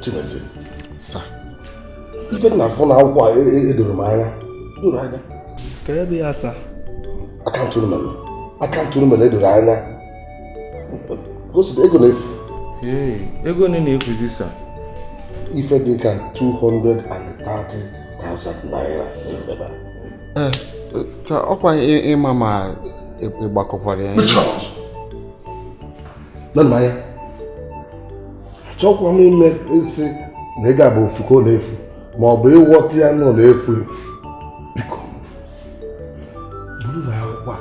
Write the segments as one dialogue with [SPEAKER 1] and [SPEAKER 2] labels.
[SPEAKER 1] Chimezie. Sa. Ife m na-afụ na akwụkwọ a edorọ m anya. Doro anya. Ka ebe ya sa. Akaụntụ unu mere. Akaụntụ unu mere edorọ anya. Gosiri ego na-efu. Ee, ego one na-efuzi sa. Ife dị ka 230,000 naira na-efu ebe a. Ee, sa ọ kwa ị ma ma ị gbakọkwara e, ya. na mmanya chọkwa m ime isi na ego abụ ofu ka ọ na-efu ma ọ bụ ịghọta ya na ọ na-efu efu biko burunu akwụkwọ a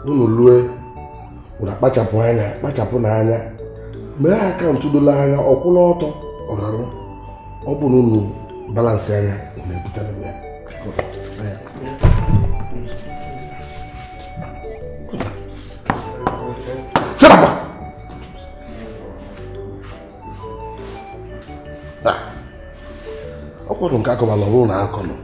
[SPEAKER 1] unu lue unu akpachapụ anya kpachapụnụ anya mee akaụntụ dolu anya ọ kwụrụ ọtọ ọrarụ ọ bụ na unu balansịa ya unu ebutere m ya Shut up! Ọ kwụrụ nke akọbala ọ bụrụ na akọ nọ.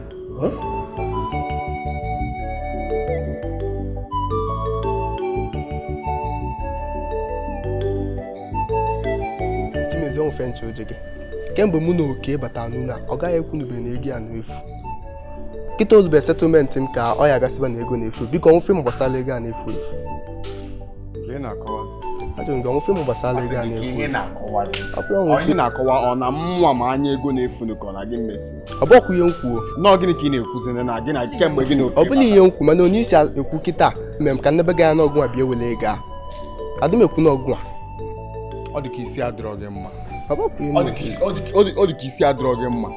[SPEAKER 1] Chimezie o nwe ife m chọ ịjụ gị. Kemgbe mụ na oke batara n'ụlọ a, ọga anyị ekwunube na ego ya na-efu. kịta o lube setụlmentị m ka ọ ya ga-asịba na ego na-efu biko o nwe ife ị ma gbasara ego a na-efu efu ajụrụ m gị o nwe ife ị ma gbasara ego a na-efu onye na-akọwa ọ na mụnwa ma anya ego na-efu ka ọ na gị mmesi ọ bụkwa ihe m kwuo nọọ gịnị ka ị na-ekwuzi na gị na kemgbe gị na ọ bụrọ ihe m kwu mana otu i si ekwu kịta mere m ka m nebe gị anya na ọ gịwa bịa wele ego a adị m ekwu na ọ gịwa ọ dị ka isi adịrọ gị mma ọ dị ka isi adịrọ gị mma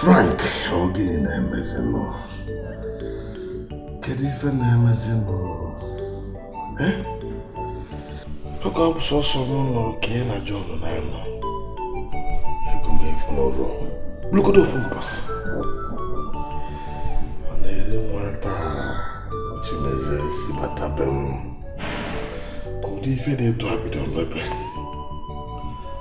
[SPEAKER 1] Frank ọ gịnị na-emezinụ kedu ife na-emezinụ oge ọ bụ sọsọ mụ na gị na John na-anọ ego m efunurọ bụrụgodu ofu mbọsị ọ na eri nwata Chimezie si bata be m ka ụdị ife dị etu a bido mebe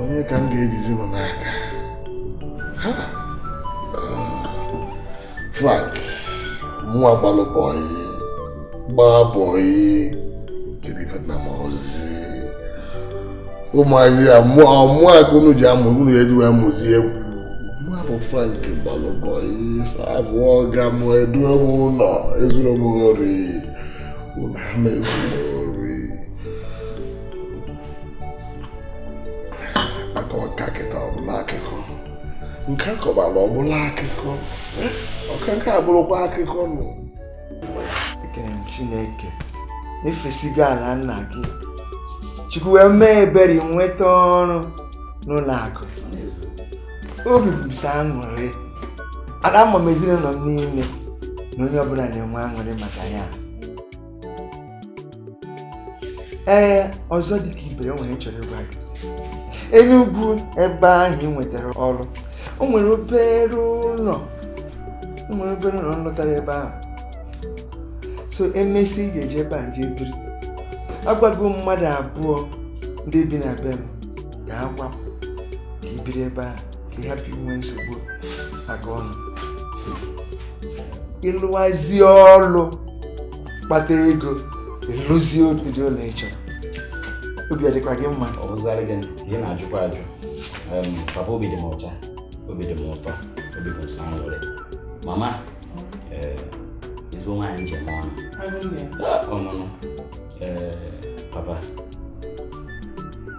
[SPEAKER 1] onye ka m ga-ejizinu n'aka Frank mụwa gbalụ bọyị gbaa bọyị dịrịfe nna m ozi ụmụazị ya mụọ aka unu ji amụ unu eji wee mụzi egwu mụwa bụ Frank gbalụ bọyị savụọ ọga mụ eduo m ụlọ ezurọ m ori unu ama ezu m a kọwa nke a kịta ọ bụlụ akụkọ nke a kọbara ọ bụlụ akụkọ ọka nke a bụrụkwa akụkọ nụ ekele m chineke i fesigo ala nna gị chukwu wee mee ebere nweta ọrụ n'ụlọ akụ obi bụ sọ aṅụrị ada ọma m ezinụlọ m niile na onye ọbụla na-enwe aṅụrị maka ya ee ọzọ dịka ibe ya o nwere ihe m chọrọ ịgwa gị Enugu ebe ahụ ị nwetara ọrụ o nwere obere ụlọ o nwere obere ụlọ m lụtara ebe ahụ so emesịa ị ga-eje ebe ahụ je biri agwago m mmadụ abụọ ndị bi na be m ga-akwapụ ka i biri ebe ahụ ka ị hapụ inwe nsogbu maka ụnọ ị lụwazie ọlụ kpata ego ị lụzie ụdị ụlọ ị chọrọ obi adịkwa gị mma ọ bụzị ihe a na-ajụkwa ajụ papa obi dị m ọcha obi dị m ụtọ obi bụ m sọ aṅụrị mama ezigbo nwaanyị m ji eme ọnụ ọmụnụ ee papa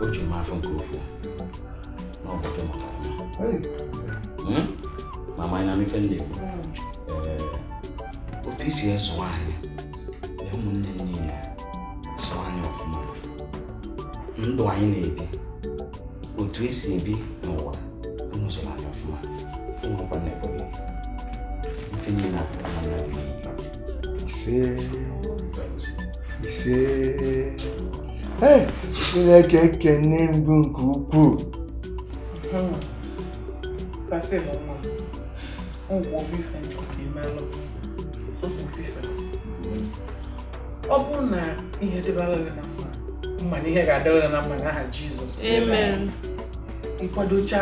[SPEAKER 1] o juru m afọ nke ukwuu na ọ bụ gị mụtara m Hmm? mama anyị na ife ndị Igbo ee otu i si zụọ anyị na ụmụnne m niile zụọ anyị ọfụma ndụ anyị na-ebi otu e si ebi n'ụwa unu zụrụ anyị ọfụma ụmụ nwanne m ife niile a na-anaghị ise ise ee chineke ekene m gị nke ukwuu ọ bụrụ na ihe dịbara gị na mma m ma na ihe ga-adịrị na mma n'aha Jizọs ịkwadocha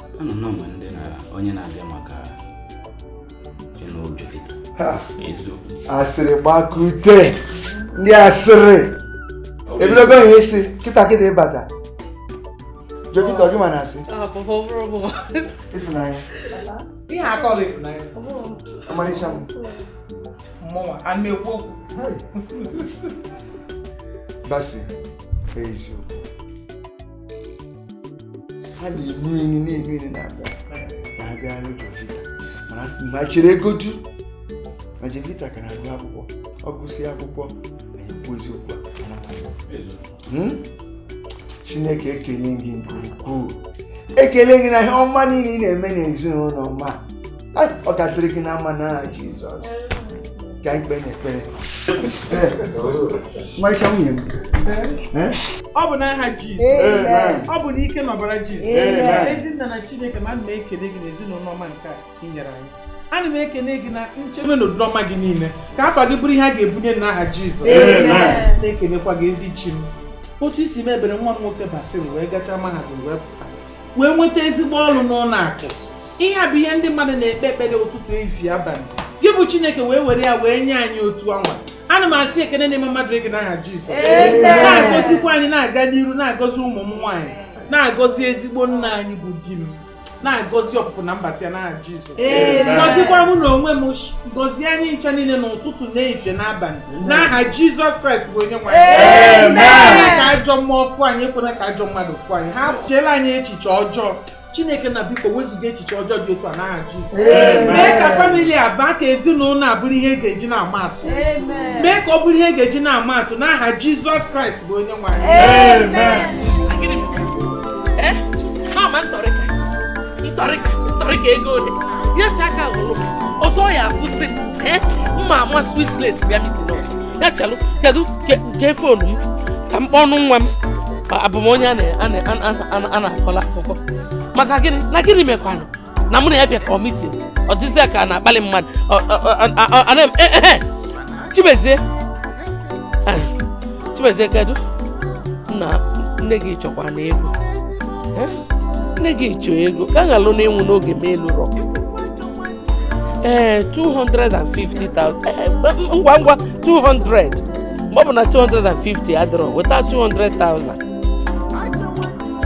[SPEAKER 1] Anọ nọ mgbe ndị na onye na-abịa maka ịnụ Jovita. Asịrị gbakute ndị asịrị ebidogo ihe isi kịta kịta ịbata Jovita ọ jụ mana asị ịfụnanya ihe akọrọ ịfụnanya ọmarịcha m mụnwa a na-ekwu okwu basi eziokwu ha na-enu enu na-enu enu na-abịa ka ha bịa nụọ Jovita m na-asị ha cheregodu na Jovita ka na-agụ akwụkwọ ọ gụsịa akwụkwọ anyị ekwuzie okwu a Hmm? chineke ekele gị nke ukwuu ekele gị na ihe ọma niile ị na-eme n'ezinụlọ m a ọ ga-adịrị gị na mma n'aha Jizọs ka anyị kpee n'ekpere marịcha nwunye m ọ bụ n'aha Jizọs ọ bụ n'ike n'ọbara Jizọs Ezi nna na Chineke m ana m ekele gị n'ezinụlọ ọma nke a ị nyere anyị ana m ekele gị na nchebe na odudu ọma gị niile ka afa gị bụrụ ihe a ga-ebunye enu n'aha Jizọs na-ekelekwa gị ezi chi m otu i si mee ebere nwa m nwoke basịrị wee gachaa mahadum wee pụta wee nweta ezigbo ọrụ n'ụlọ akụ ihe a bụ ihe ndị mmadụ na-ekpe ekpere ụtụtụ efifie abalị gị bụ chineke wee were ya wee nye anyị otu anwa ana m asị ekene na mmamma dịrị gị n'aha jizọs na-agọzikwa anyị na-aga n'iru na-agọzi ụmụ m nwaanyị na-agọzi ezigbo nna anyị bụ di m na-agọzi ọpụpụ na mbata ya n'aha jizọs gọzikwa mụ n'onwe m gọzie anyị ncha niile n'ụtụtụ n'ehihie n'abalị n'aha jizọs kraịst bụ onye nwe anyị ka ajọ mmụọ fụ anyị ekwena ka ajọ mmadụ fụ anyị ha cheela anyị echiche ọjọọ chineke nna biko wezuga echiche ọjọọ dị otu a n'aha Jizọs mee ka famili a baa ka ezinụlọ a bụrụ ihe e ga-eji na-ama atụ mee ka ọ bụrụ ihe e ga-eji na-ama atụ n'aha Jizọs Kraịst bụ onye nwe anyị ego ole ya chaka ọzọ ya akwụsị mma ama Swiss lace bịa mitin ya chelụ kedu kee fonu m ka m kpọọ ọnụ nwa m abụ m onye a na-akọlụ akụkọ maka gịnị na gịnị mekwanụ na mụ na ya bịakọ mitin ọ dịzịa ka a na-akpali mmadụ e, e, e, chimezie ah, chimezie kedu nne gị chọkwanụ ego nne gị chọọ ego ka a ghalụ ịnwụ n'oge m elurọ ee 250,000 ngwa ngwa 200 ma ọ bụ na 250 adịrọ weta 200,000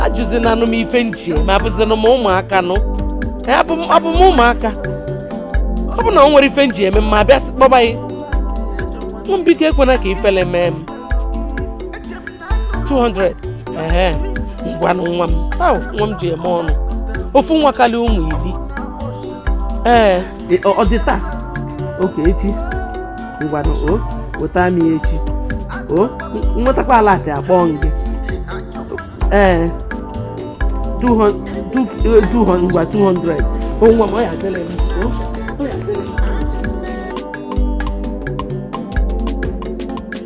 [SPEAKER 1] ajụzinanụ m ife m ji eme abụzinụ m ụmụaka nụ Ee, abụ m abụ m ụmụaka ọ bụ na o nwerọ ife m ji eme m ma abịazi kpọba gị nwa m biko ekwena ka ifele mee m 200 ee ngwanụ nwa m au nwa m ji eme ọnụ ofu nwa karịa ụmụ iri ee e- ọ ọ dị taa okay echi ngwanụ o weta m ya echi o n- nwetakwa alert akpọọ m gị ee 200 200 200 ngwa 200 o nwa m ọ ya dịrị m o ọ ya dịrị m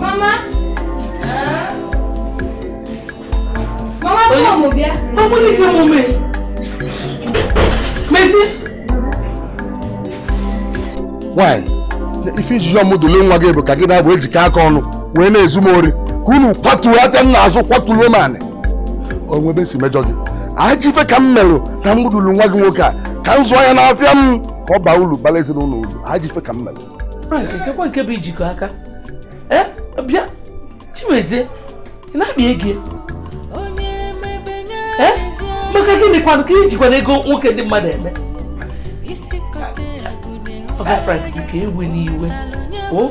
[SPEAKER 1] Mama! Mama, kọ́ ọmọ bíá. Ọmọ ní kí ọmọ mẹ́. Mẹ́sí. Why? Ife i ji yọọ mụ dulu nwa gị bụ ka gị na-abụ ejikọ aka ọnụ wee na-ezu m ori ka unu kwatuo afịa m na-azụ kwatuo m anị. O nwe ebe m si mejọ gị. Ajọ ife ka m merụ na m dulu nwa gị nwoke a ka m zụọ ya n'afịa m ka ọ baa uru bara ezinụlọ uru. Ajọ ife ka m merụ. Frank keekwa nke bụ ijikọ aka ee eh, bịa Chimezie ị na-akpa ego ee eh, maka gịnị kwanụ ka ijikwana ego nwoke ndị mmadụ eme ọga Frank biko ewena iwe o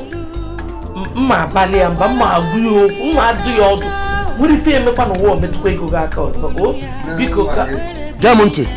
[SPEAKER 1] mma abalị ya mba mma agwa ya okwu mma adụ ya ọdụ o nwerọ ife mekwa na ụwa ometụkwa ego gị aka ọzọ o biko ka gee m ntị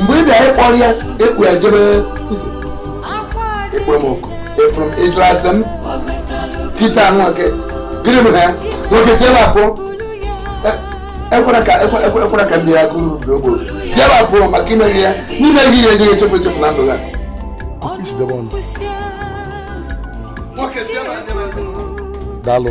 [SPEAKER 1] mgbe ị bịara ịkpọrọ ya ikuru ya jebe siti ekwe m oku efuru m ịjụrụ asị m pita nwa gị gịnị bụ aha nwoke si ebe a pụọ ekwere ka ekwere ka ndị ya kụrụ rubere ogbo si ebe a pụọ maka imeghị ya m mee gị ihe ị gaghị echefu echefu na ndụ ya daalụ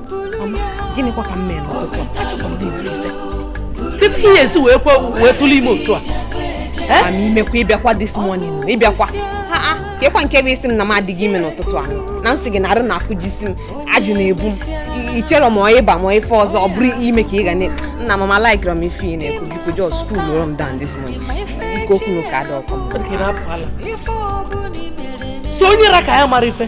[SPEAKER 1] gịnịkwa ka m mere n'ụtụtụ a achọkwa m na-eri ife Kedu ka i si wee kwe wee tụrụ ime otu a Eh? mama imekwa ịbịakwa this morning ịbịakwa ha a ka ịkwa nke bụ ị sị m na m dị ime n'ụtụtụ a na m sị gị na arụ na-akụjisi m ajụ na-ebu m I- i chọrọ ma ọ ịba ma ife ọzọ ọ bụrụ ime ka ị ga na nna mama laikra m ife ị na-ekwu biko just cooluru m down this morning biko okwu na ụka ada ọkụ m Ọ dị ka ị na-apụ ala. so onye ra ka ya mara ife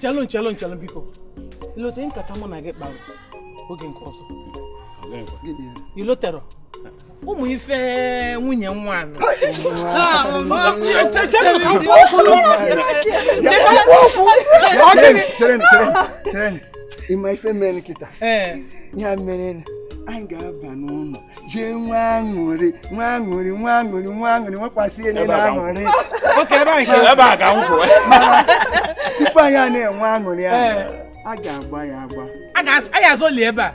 [SPEAKER 1] chelụ nụ chelụ nụ chelụ biko ilote nkata mụ na gị kpara oge nke ọzọ ilotero ụmụ ife nwunye nwa anụ chere chere chere ị ma ife merenụ kịta ya mere na anyị ga-aba n'ụlọ jee nwee aṅụrị nwee aṅụrị nwee aṅụrị nwee aṅụrị nwekwasị ele na aṅụrị tupu anyị a na-enwe aṅụrị ahụ a ga-agba ya agba a ga-azoli ebe a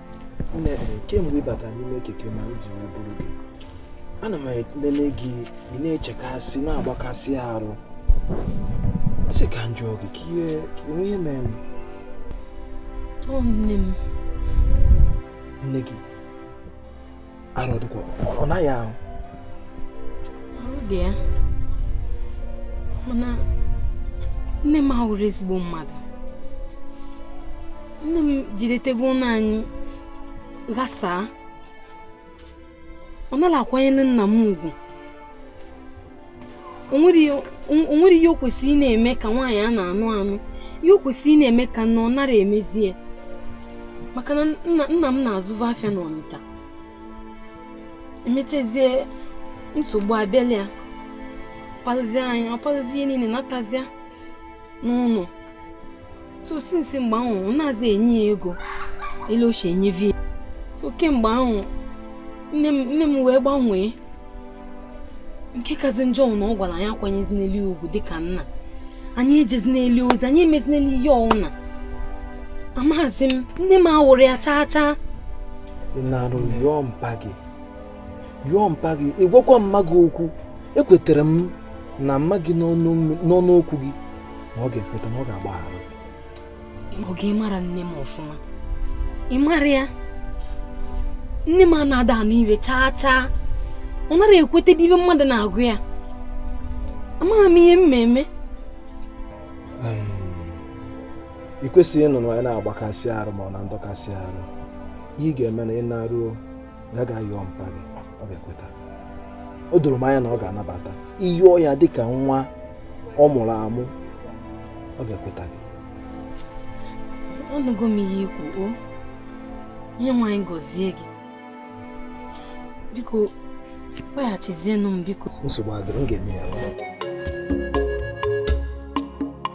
[SPEAKER 1] nne kemgbe ị batara n'ime keke m a m ji wee buru gị ana m elele gị ị na-echekasị na-agbakasị arụ sị ka m jụọ gị ka e nwe ihe merenụ nne m nne gị arụ dịkwa ọ naghị ahụ arụ dị ya mana nne m awụrọ ezigbo mmadụ nne m jidetego ụlọ anyị ghasaa ọ naghị akwanyere nna m ugwu o nwere ihe o kwesịrị ịna-eme ka nwaanyị a na-anụ anụ ihe o kwesịrị ịna-eme ka nne ọ nara emezie maka na nna m na-azụva afịa n'Ọnịcha emechezie nsogbu abịala ya ọ palụzie anyị ọ palụzie niile natazia n'ụlọ so since mgbe ahụ ọ nazị enye ya ego ele o shi enyevu ya so kemgbe ahụ nne m wee gbanwee nke kazi njọ wụ na ọ gwara anyị akwanyezinelụ ya ugwu dịka nna anyị ejezinelụ ya ozi anyị emezinelụ ya ihe ọwụna amaghịzi m nne m awụrọ ya chaa chaa ị naruo yọọ mpa gị yọọ mpa gị ị gwakwa mma gị okwu ekwetara m na mma gị na ọ nụ okwu gị na ọ ga-ekweta na ọ ga-agbaghara ọ ga ị mara nne m ọfụma ị mara ya nne m ana-ada anụ ihe chaa chaa ọ nara ekwetadị ihe mmadụ na-agwa ya amaghị m ihe m ma-eme ị kwesịghị ịnọ na ya na-agbakasị arụ ma ọ na-adọkasị arụ ihe ị ga-eme na ị naruo gaa gaa yọọ mpa gị ọ ga-ekweta o doro m anya na ọ ga-anabata ị yọọ ya dịka nwa ọ mụrụ amụ ọ ga-ekweta gị anụgo m ihe i kwu Onyenwe anyị gọzie gị biko weghachizienụ m biko nsogbu adịrọ m ga-eme ya